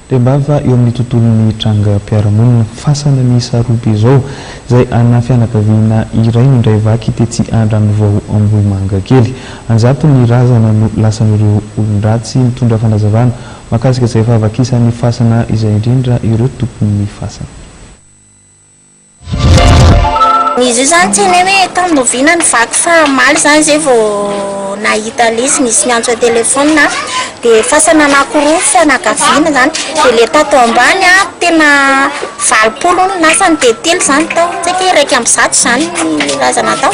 Rembava eo amin'ny tontolon'ny trangam-piarahamonina. Fasana miisa roa be izao, izay ana fianakaviana iray no indray vaky tetsy Andranovao Ambohimangakely. An-jatony razana no lasan'ireo olon-dratsy. Mitondra fanazavana mahakasika izay fahavakisan'ny fasana izay indrindra ireo tompon'ny fasana. Izy io zany tsy hainay hoe tamin'ny oviana ny vaky fa omaly zany zay vao nahita lesy nisy miantso an-telephone an, dia fasana anankiroa fianakaviana zany, dia le tato ambany an tena valopolo hono ny lasany dia telo zany tao, tsy haiko hoe iraika amby zato zany ny razana tao.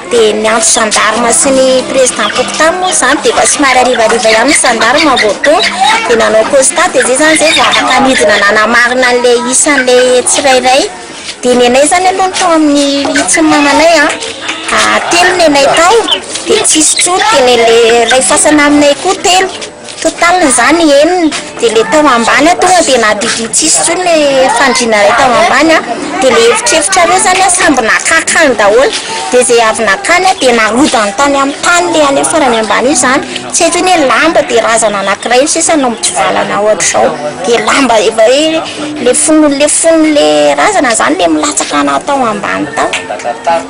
Dia ny antso gendarme sy ny président fokontany moa izany dia efa somary harivariva ihany ny gendarme vao tonga dia nanao constat dia izay izany izay vao afaka nidina nanamarina an'ilay isan'ilay tsirairay dia ny anay izany aloha ny tao amin'ny hitsiny mamanay an, telo ny anay tao dia tsy nisy intsony dia ny an'ilay iray fasana aminay koa telo. Total izany enina dia ilay tao ambany tonga dia nahadidio tsisy intsony ilay fandriana iray tao ambany an, dia ilay efitrefitrareo izany an samby naka akany daholo, dia izay avy nakany dia narodany tany amin'ny tany ilay any farany ambany io izany, tsy haiko hoe lamba dia razana anakiray no sisa no mitsivalana ohatr'izao, dia lamba efa hoe. Le fony le fony le razana zany le milatsaka na tao ambany tao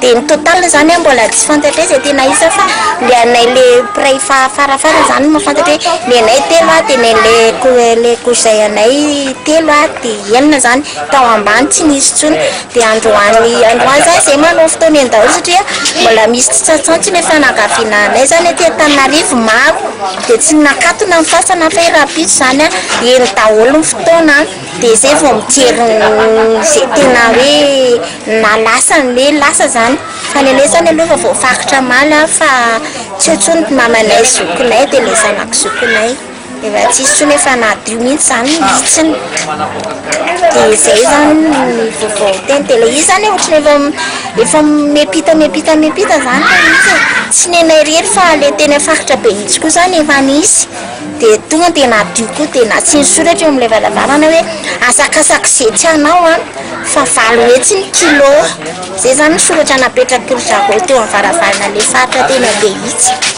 de ny total zany mbola tsy fantatre zay tena isa fa le anay le mpiray fa fara fara zany no mafantatra hoe ny anay telo a de ny le ko le kozay anay telo a de enina zany tao ambany tsy nisy tsony de androany androany zany zay manao fotoana eny daholo satria mbola misy tsy tsantsantsy ny fianakaviana anay zany aty antananarivo maro de tsy nakatona ny fasana fa hoe rahampitso zany a eny daholo ny taona an, dia zay vao mijery ze tena hoe na lasa ny hoe lasa zany, fa ny anay zany aloha efa voafaritra omaly an, fa tsy eo tsony ny mamanay, zokinay, dia le zanako zokinay, efa tsy hisy tsony efa nadio mihintsy zany ny hitsiny, dia zay zany ny vaovao tena, dia le izy zany ohatran'ny efa efa miampita miampita miampita zany le izy e, tsy nenay irery fa le teny faritra be mihintsy koa zany efa nisy. dia tonga dia nadio koa dia nasiany soratra eo amin'ilay varavarana hoe asakasako izay tsy anao an fa valo hetsy ny kilo izay izany ny soratra napetrako ry zareo teo amin'ny varavarana ilay faritra tena be itsy